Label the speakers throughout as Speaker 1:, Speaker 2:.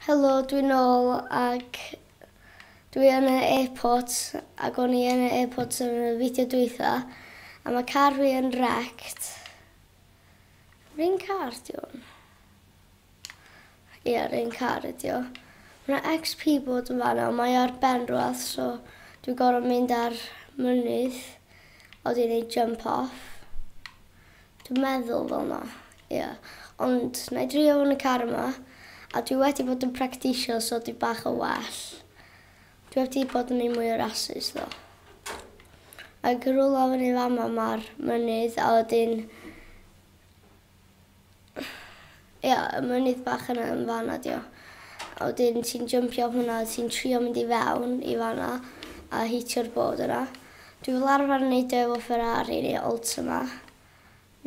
Speaker 1: Helo dwi nôl ac dwi yn y airport ac o'n i yn y airport yn y fideo dwytha a ma car fi yn wrecked. Yr un car di hwn? Ie yr un car ydi o. Ma na XP bod yn fan'na ond mae o ar ben rwbath so dwi gor'o' mynd ar mynydd o dwi'n neud jump off. Dwi'n meddwl fel'na. Ie, ond na i drio fo yn y car yma, a dwi wedi bod yn practisio so dwi bach yn well. Dwi heb 'di bod yn neud mwy o rasus ddo. Ag yn rwla fyny fama ma'r mynydd a wedyn Ie, y mynydd bach yna yn fanna 'di o. A wedyn ti'n jympio off hwnna a ti'n trio mynd i fewn i fanna a hitio'r bord yna. Dwi fel arfer yn neud o efo Ferrari neu Ultima.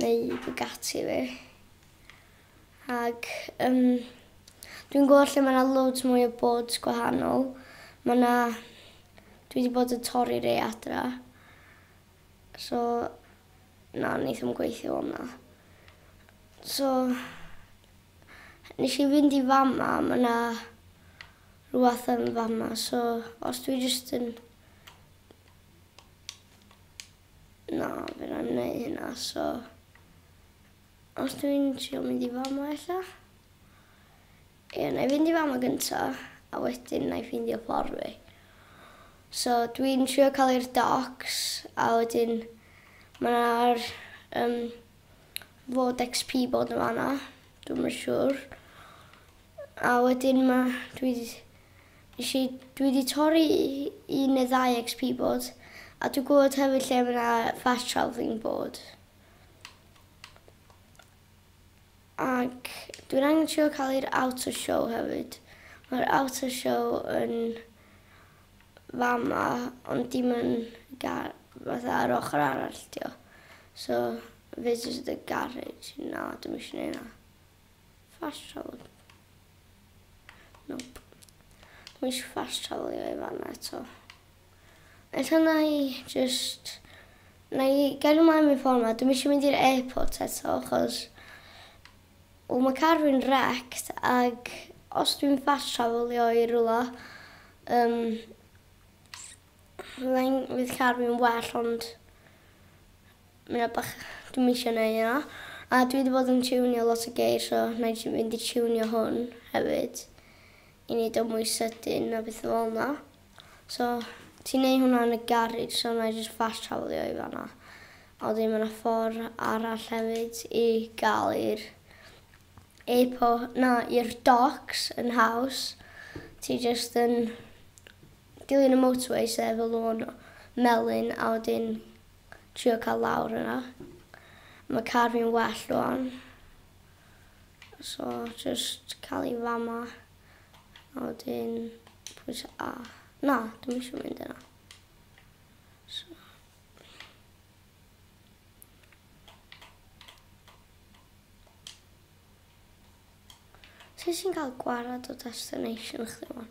Speaker 1: Neu Bugatti fi. Ac yym dwi'n gweld lle ma' 'na loads mwy o boards gwahanol. Ma' 'na... Dwi 'di bod yn torri rei adra. So na, neith o'm gweithio fel 'na. So nesh i fynd i fama a ma' 'na rwbath yn fama so os dwi jyst yn Na, fi ddim yn neud hynna so os dwi'n trio mynd i fama ella? Ie, na i fynd i fama gynta a wedyn na i ffeindio ffordd fi. So dwi'n trio cael i'r docs a wedyn mae'r um, fod XP bod yn fanna, dwi'n yn siŵr. A wedyn ma' dwi 'di nesh i dwi 'di torri un neu ddau XP board a dwi gwbod hefyd lle ma' 'na fast travelling board. Ac dwi'n angen trio ca'l i'r outer show hefyd. Ma'r outer show yn fama ond dim yn ga- fatha ar ochor arall 'di o. So visitor the garage na dwi'm isio neu' 'na. Ffasiwn. Nope. Dwi eisiau ffasiwlio i fan eto. Ella na i just... Na i gael ymlaen mewn ffordd ma. Dwi'n eisiau mynd i'r airport eto, achos... O, mae car fi'n wrecked, ac os dwi'n ffasiwlio i rhywle, um, fydd car fi'n well, ond... Mae 'na bach, dwi'm isio neud hynna. A dwi 'di bod yn tiwnio lot o geir so wna i jyst fynd i tiwnio hwn hefyd i neud o mwy sydyn a betha fel 'na. So ti'n neud hwnna yn y garej so wna i jyst fast travelio i fan'na. A wedyn ma' 'na ffor arall hefyd i ga'l i'r airpo- na i'r docs yn haws. Ti jyst yn dilyn y motorway sy efo lôn melyn a wedyn trio cael lawr yna. Mae car fi'n well rwan. So, just cael ei fama. A wedyn, pwys A. Na, dwi'n eisiau mynd yna. So. Sut sy'n cael gwared o destination chdi man?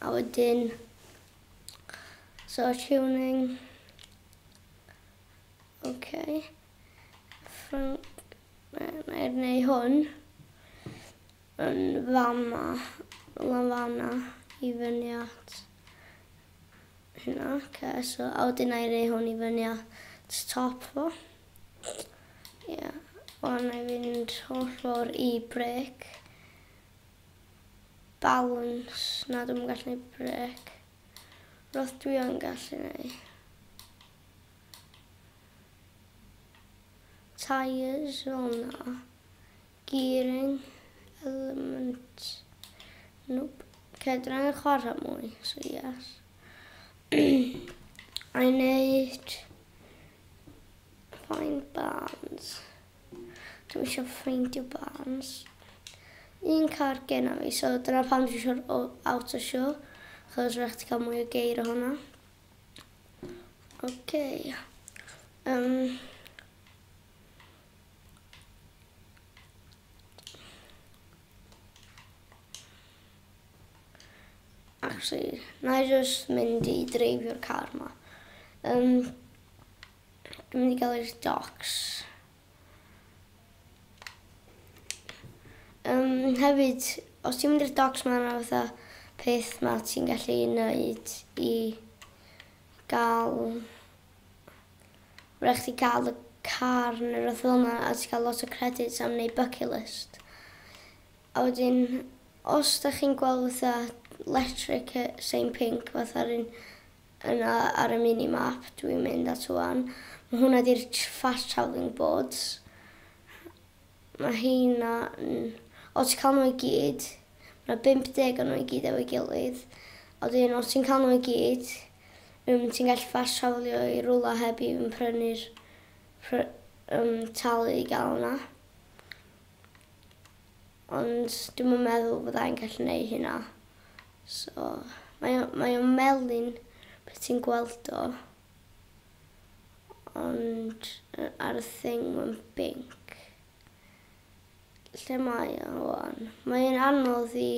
Speaker 1: A wedyn sort tuning. Okay. Ffrwng... Na i neu hwn. Yn fama. Lan fana. I fyny at. Hynna. Okay, so a wedyn na i neu hwn i fyny at top fo. Ie. Yeah. O'n i fynd holl ffordd i brec. Balans, na dwi'm yn gallu neud brêc. Rwbath dwi yn gallu neud. Tyres, o na. Gearing, element. Nope. Okay, dwi'n angen chwarae mwy, so yes. I neud... Fine bands. Dwi isio ffeindio bands. Un car genna fi so dyna pam dwi isio'r o- auto show achos rhaid chdi ca'l mwy o geir o hwnna. Oce. Yym. Actually, 'nai jyst mynd i dreifio'r car 'ma. Yym. Dwi'n mynd i gael i'r docs. Yym hefyd os ti'n mynd i'r docs ma' 'na fatha peth 'ma ti'n gallu neud i ga'l ma' rai' chdi ga'l y car ne' rwbeth fel 'na a ti ca'l lot o credit am neud bucket list. A wedyn os 'dach chi'n gweld fatha letric yy sign pinc fatha'r un Yna ar y mini map dwi'n mynd at ŵan, mae hwnna ydy'r fast travelling boards. Mae heina yn... O ti'n cael nhw i gyd, mae 50 o nhw i gyd efo'i gilydd. A wedyn o ti'n cael nhw i gyd, um, ti'n gallu fast travelio i rwla heb i yn prynu'r pr um, talu i gael yna. Ond dwi'm yn meddwl fydda i'n gallu neud hynna. So, mae o, mae o'n melyn pe ti'n gweld o. Ond ar y thing mae'n binc. Lle mae o wan? Mae o'n anodd i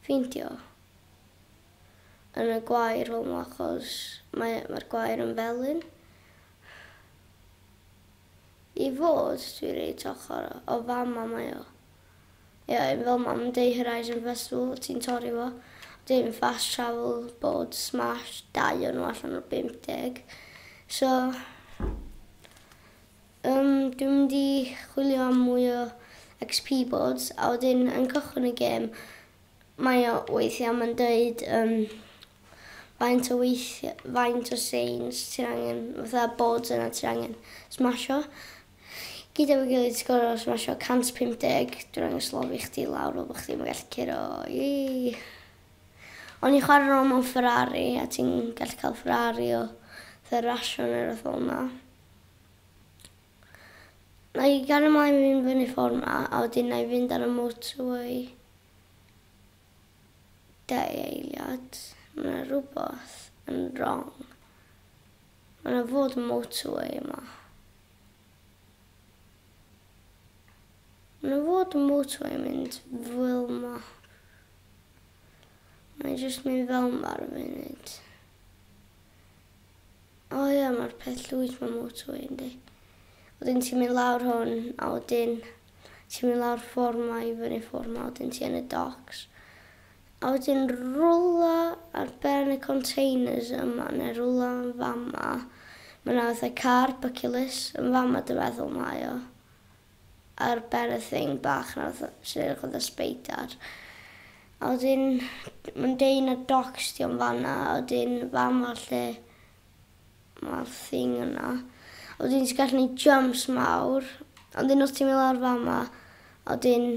Speaker 1: ffeindio yn y gwair fel 'ma achos mae, mae'r gwair yn felyn. I fod dwi reit ochor o fam mam mae o Ie un fel mam dei horizon festival o ti'n torri fo dim fast travel bod smash dau o nhw allan o 50 so um, dwi'n mynd i chwilio am mwy o XP boards a wedyn yn cychwyn y gêm mae o weithiau mae'n dweud um, faint o weithie- faint o seins ti angen fatha boards yna ti angen smasho gyd efo'i gilydd ti gor'o' smasho 150 dwi'n angen slofi chdi lawr fel bo' chdi'm yn gallu curo ii o'n i'n chware rôl mewn Ferrari a ti'n gallu ca'l Ferrari o fatha rasio ne' rwbeth fel 'na. Na'i gario mlaen i fynd fyny ffor 'ma a wedyn na'i fynd ar y motorway. Dau eiliad, ma' 'na rwbath yn rong. Ma' 'na fod yn motorway yma. Ma' 'na fod yn motorway yn mynd fel 'ma. Mae jyst mynd fel 'ma ar y funud. O ia ma'r peth llwyth ma motorway yndi. Wedyn ti'n mynd lawr hwn a wedyn ti'n mynd lawr ffor ma i fyny ffor ma wedyn ti yn y docs. A wedyn rwla ar ben y containers yma ne rwla yn fama ma na fatha car bucculus yn fama dwi feddwl mae o. a'r berthyn bach 'na fatha sy'n edrych fatha sbeidar a wedyn ma'n deud na docs 'di o yn fan'na a wedyn fama lle ma'r thing yna a wedyn ti'n gallu neud jumps mawr a wedyn os ti'n mynd lawr fama a wedyn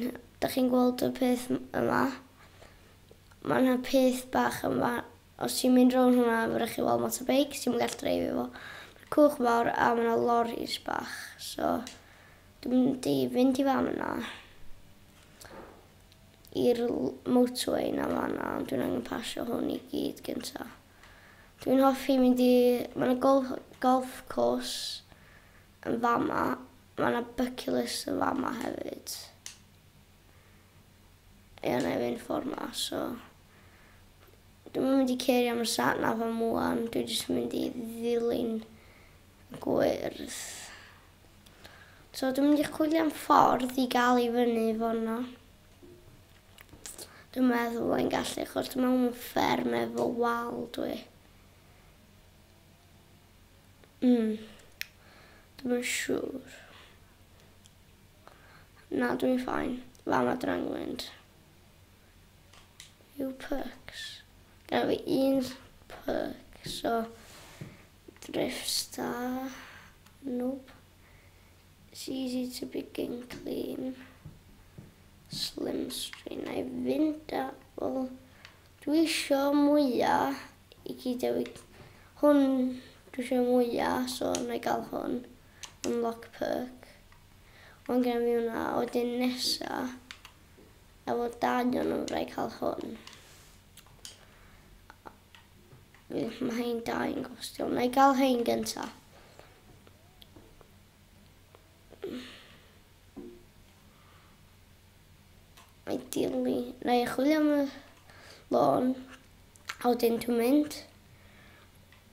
Speaker 1: dach chi'n gweld y peth yma ma' 'na peth bach yn fa- Os ti'n mynd rownd hwnna mae'n rhaid chi weld motorbike, ti'm yn gallu dreifio fo. Ma'r cwch mawr a ma' 'na loris bach so dwi'n mynd i fynd i fan yna i'r l- motorway 'na fan'na ond dwi'n angen pasio hwn i gyd gynta. Dwi'n hoffi mynd i... Ma' 'na gol- golf course yn fama, ma' 'na byculus yn fama hefyd. Ie, 'nai fynd ffor 'ma so. Dwi'm yn mynd i cêrio am y sat nav am ŵan, dwi jyst yn mynd i ddilyn y gwyrdd. So dwi'n mynd i chwilio am ffordd i gael i fyny fono. Dwi'n meddwl fod i'n gallu, chos dwi'n meddwl mewn fferm efo wal dwi. Mm. Dwi'n mynd siŵr. Na, dwi'n ffain. Fama drangwynt. Rhyw pycs. Gaf fi un pycs o Driftstar. Nope. It's easy to begin clean. Slim strain. Na i fynd a... Wel, dwi isio mwya i gyd efo'i... Hwn dwi isio mwya, so na i gael hwn. Unlock perk. Ond gen fi hwnna, wedyn nesa. A fod dad yn orau cael hwn. Mae hyn da i'n gostio. Mae gael hyn gyntaf. Mae dilni. Na i chwilio am y lôn. A wedyn dwi'n mynd.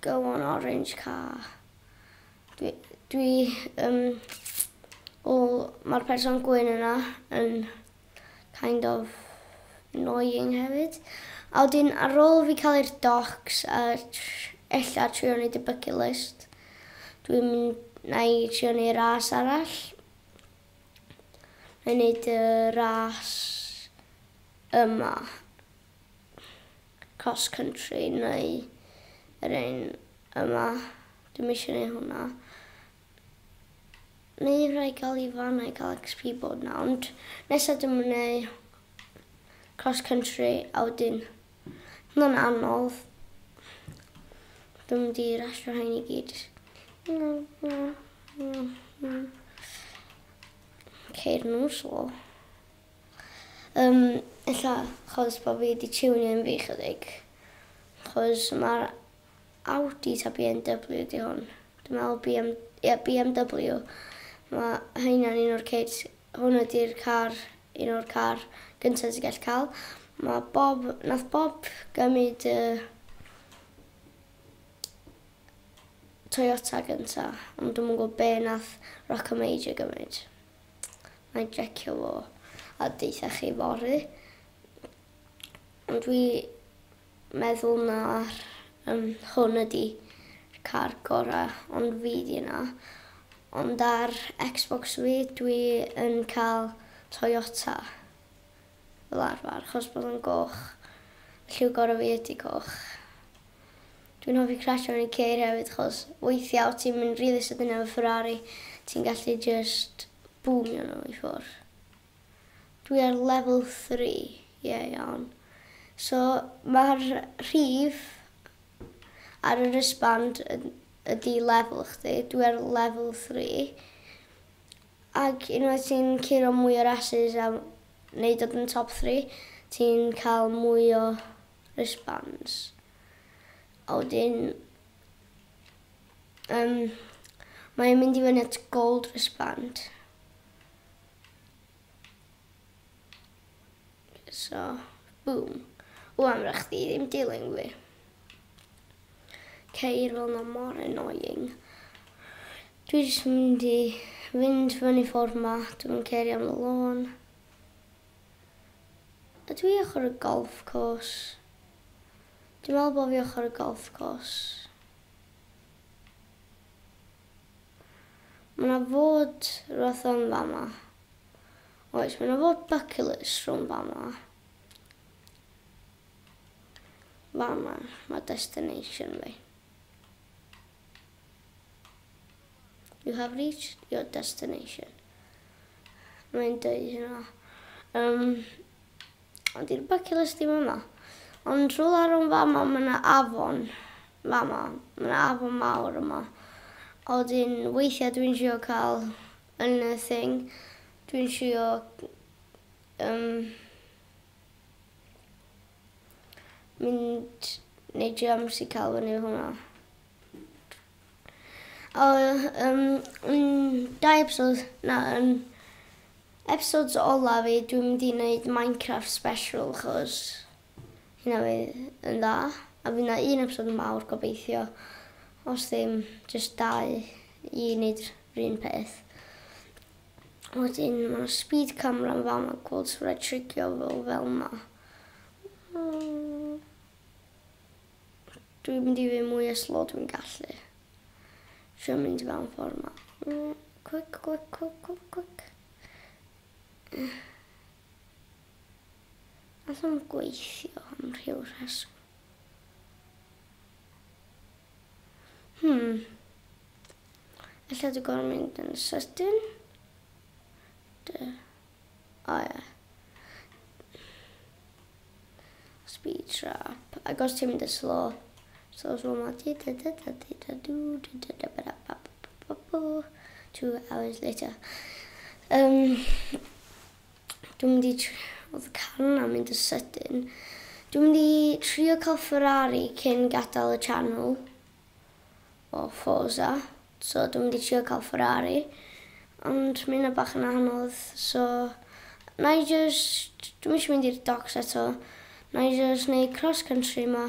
Speaker 1: Go on orange car. Dwi dwi yym o ma'r person gwyn yna yn kind of annoying hefyd. A wedyn ar ôl fi ca'l i'r docs a tr- ella trio neud y bucket list dwi'n mynd nâi trio neu' ras arall. Nâi neud y ras yma. cross country neu yr un yma. Dwi'n eisiau gwneud hwnna. Mae i rhaid gael i fan a'i gael XP bod na, ond nesaf dwi'n mynd cross country a wedyn mae'n anodd. Dwi'n mynd i rasio hyn i gyd. Ceir nhw slo. Yym, ella achos bo' fi 'di tiwnio un fi 'chydig. Achos ma'r Audi ta Bee En Double-you 'di hwn? Dwi me'wl Bee Em, ie Bee Em Double-you. Ma' rheina'n un o'r kids. Hwn ydi'r car, un o'r car gynta ti gell ca'l. Ma' Bob, nath Bob gymyd y Toyota gynta, ond dw'm yn gw'o' be' nath Rockamajor gymyd. Mae'n jecio fo a deutha chi fory. Ond dwi meddwl na um, hwn ydi car gora ond fi di yna. Ond ar Xbox fi dwi yn cael Toyota fel arfer, chos bod yn goch. Lliw gorau fi ydi goch. Dwi'n hoffi crasio yn y ceir hefyd achos weithiau os ti'n mynd rili sydyn efo Ferrari ti'n gallu jyst bŵmio nhw i ffwrdd. Dwi ar level three, ie iawn. So ma'r rhif ar y wristband ydi level chdi, dwi ar level three. Ac unwaith ti'n curo mwy o rasys a neud dod yn top three ti'n cael mwy o response a wedyn yym mae e'n mynd i fyny at gold respond so boom wan ma' chdi ddim dilyn fi ceir fel ma' mor annoying dwi jyst mynd i fynd fyny ffordd ma dwi'm yn cerio am y lôn Ydw i ochr y golf course? Dwi'n meddwl bod fi ochr y golf course. Mae yna fod rhywbeth yn fama. Oes, mae yna fod bucculus rhwng fama. Fama, mae destination fi. You have reached your destination. Mae'n dweud hynna. Um, ond i'r bacilus ddim yma. Ond rhywle ar o'n fama, mae yna afon. Fama, mae yna afon mawr yma. A wedyn, weithiau dwi'n siŵr cael yn y thing. Dwi'n siŵr... Um, Mynd neu jams i cael fyny hwnna. O, um, yn dau episod, na, yn episodes ola fi, dwi'n mynd i wneud Minecraft special, chos hynna fi yn dda. A fi na un episod yn mawr gobeithio, os ddim, just dau i wneud rhywun peth. Wedyn ma' 'na speed camera yn fan 'ma gweld sut mae trigio fo fel 'ma. Dwi'n mynd i fyn' mwy o slo dwi'n gallu. Trio mynd fel y ffor 'ma. Quick quick quick quick quick. Alla'm gweithio am rhyw rheswm. Hmm. Ella dwi'n gorfod mynd yn sydyn. Dy... O ie. Speed trap. Ac os ti'n mynd yn slow. So slow ma di da da da di da du da da da ba da ba ba ba ba ba. Two hours later. Um, dwi'n mynd i... Oedd y car yna mynd yn sydyn. Dwi'n mynd i trio cael Ferrari cyn gadael y channel. o Forza so dwi'n mynd i trio ca'l Ferrari ond ma' ynna bach yn anodd so nâi jyst, dwi'm isio mynd i'r docs eto, nâi jyst neud cross country 'ma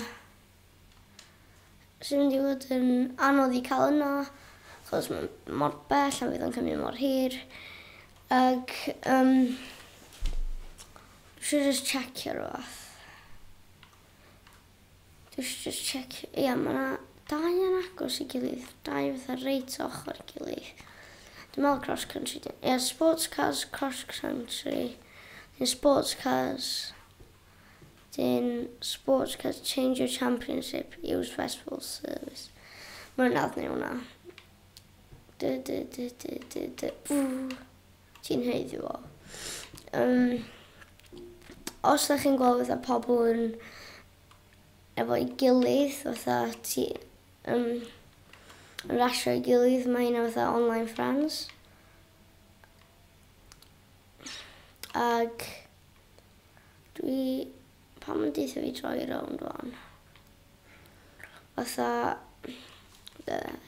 Speaker 1: sy'n mynd i fod yn anodd i ca'l yna achos ma'n mor bell a fydd o'n cymryd mor hir ag yym dwi isio jyst checio rwbath. Dwi isio jyst checio, ia ma' 'na dau yn agos i gilydd, dau fatha reit ochor i gilydd. Dwi'n meddwl cross country 'di hwn. Ia sports cars cross country 'dyn sports cars 'dyn sports cars change your championship use festival service. Mwy na hwnna. Dy dy dy dy dy dy. Ti'n haeddu o. Yym, os dych chi'n gweld fatha pobl yn efo'i gilydd, fatha ti um, yn rasio'i gilydd, mae hynna fatha online friends. Ac dwi... Pam yn deitha fi troi rownd o'n? Fatha... Beth?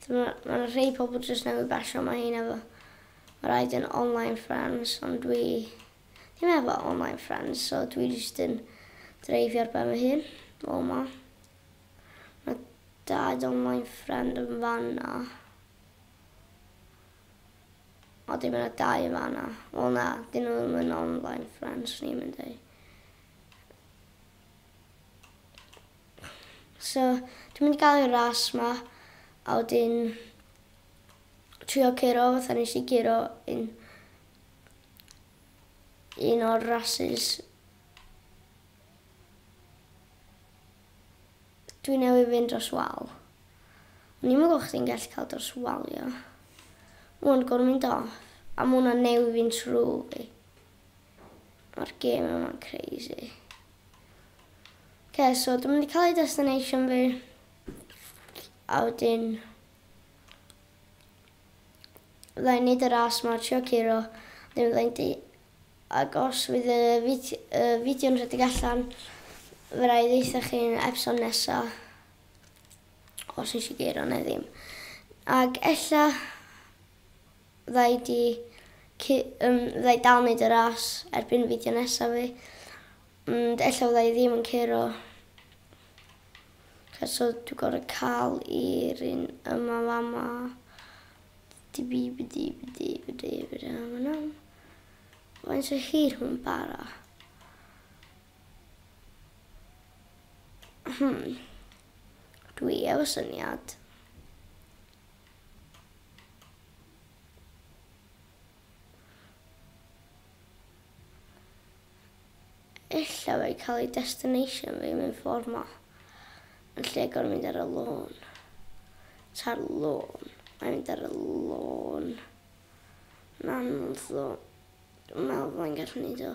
Speaker 1: Mae rhei pobl jyst newydd basio mae hyn efo ma raid yn online friends ond dwi ddim efo online friends so dwi jyst yn dreifio ar ben fy hun o ma. Mae dad online friend yn fanna. O dim yna dau yn fanna. Wel na, dyn nhw ddim yn online friends ni'n mynd i. So, dwi'n mynd i gael y ras 'ma a wedyn trio curo fatha nes i curo un un o'r rasys dwi newydd fynd dros wal. O'n i'n meddwl chdi'n gallu cael dros wal, ia. Ond gorfod mynd off. A mae hwnna'n newid fi'n trwy fi. Mae'r gêm yma'n crazy. Okay, so dwi'n mynd i cael ei destination fi. A wedyn... Fydda i'n neud y ras ma, trio curo. Wedyn fydda i'n di... Ac os fydd y fideo, y fideo yn rhedeg allan, fe rai ddeitha chi'n epson nesa. Os nes i geiro neu ddim. Ac ella Rhaid i ci yym rhaid dal neud y ras erbyn fideo nesa fi ond ella fyddai ddim yn curo ca so dwi gor'o' ca'l i'r un yma fama dibibidibidibidibidibidibidibidi faint o hir hwn bara? Hmm dwi efo syniad. Ella fe cael ei destination fi mewn ffordd ma. Yn lle gorau mynd ar y lôn. Ta'r lôn. Mae'n mynd ar y lôn. Na, anodd ddo. Dwi'n meddwl fydda'n gallu neud o.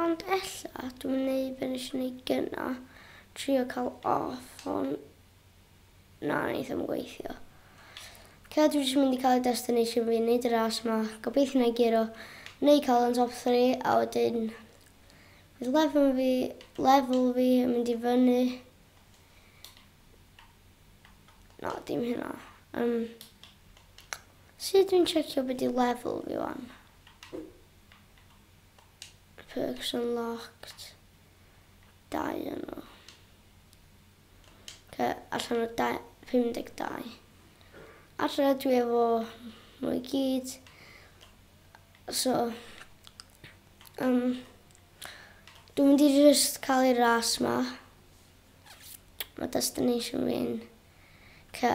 Speaker 1: Ond ella dwi'm yn neud be nes i neud gynna, trio cael off on na neith o'm gweithio. Lle dwi jyst mynd i cael y destination fi, neud y ras ma, gobeithio na i guro, neu cael yn top 3 a wedyn bydd lefel fi, lefel fi yn mynd i fyny. Na, dim hynna. Um, sut dwi'n checio beth i lefel fi wan? Perks unlocked. Dau o nhw. Oce, allan o dau- 52. Alla dwi efo nhw i gyd. So, um, dwi'n mynd i just cael ei ras ma. Mae destination fi'n... Oce.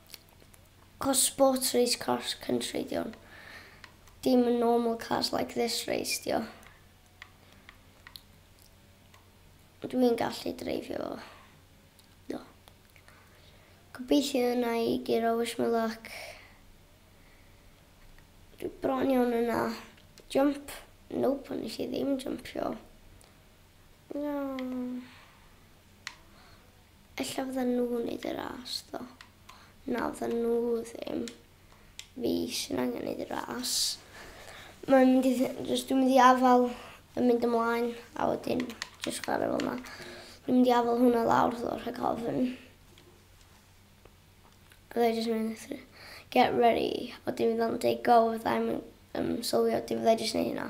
Speaker 1: Cos sports race cross country di hwn. Dim normal cars like this race di o. Dwi'n gallu dreifio fo. Do. Gobeithio yna i giro wish me luck. Dwi bron iawn yna. Jump. Nope, nes i ddim jumpio. No. Ella fyddan nhw wneud y ras ddo. Na fyddan nhw ddim. Fi sy'n angen neud y ras. Mae'n mynd i... Just dwi'n mynd i afal yn mynd ymlaen a wedyn just chwarae fel yna. Dwi'n mynd i afal hwnna lawr ddo rhag ofn. Oedd e just mynd through. Get ready. O dim fydda'n dweud go fydda i'm yn um, sylwio dim fydda i just neud hynna.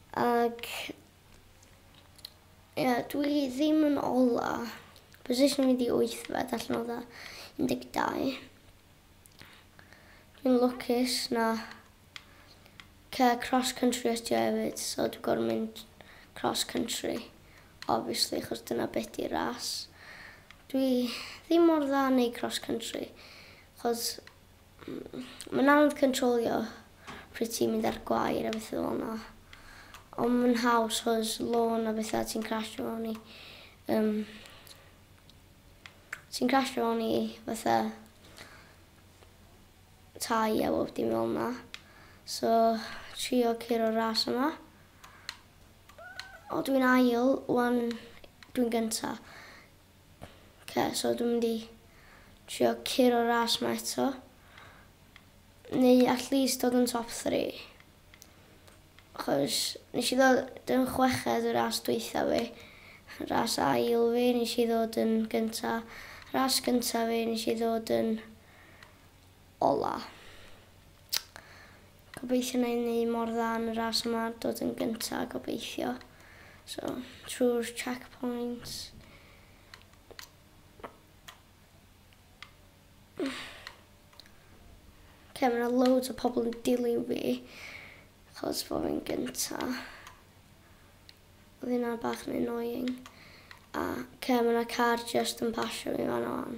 Speaker 1: Ac ie, dwi ddim yn ola. Position fi di wythfed allan o dda 12. Dwi'n lwcus na cer cross country ydi o hefyd, so dwi'n gorfod mynd cross country, obviously, chos dyna beth di ras. Dwi ddim mor dda yn neud cross country, chos Mae'n anodd cyntrolio pryd ti'n mynd ar gwair a beth fel yna. Ond mae'n haws chos lôn a bethau ti'n crasio fewn i. Um, ti'n crasio fewn i fatha tai a bob dim fel yna. So, trio curo ras yma. O, dwi'n ail, wan dwi'n gynta. Oce so dwi'n mynd i trio curo'r ras 'ma eto. Neu at least dod yn top three. Achos nes i ddod yn chweched y ras dwytha fi. Ras ail fi nes i ddod yn gynta. Ras gynta fi nes i ddod yn ola. Gobeithio wna i wneud mor dda yn y ras yma, dod yn gyntaf gobeithio. So, trwy'r checkpoints. Oce, mae yna loads o pobl yn dilyn fi, chos fo fi'n gynta. Oedd hynna bach yn annoying. A, oce, mae yna car just yn pasio fi fan o'n.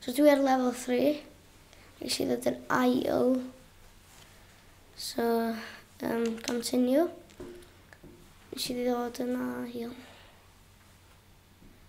Speaker 1: So dwi ar level three. Nes i ddod yn ail. So, um, continue. Nes i ddod yn ail.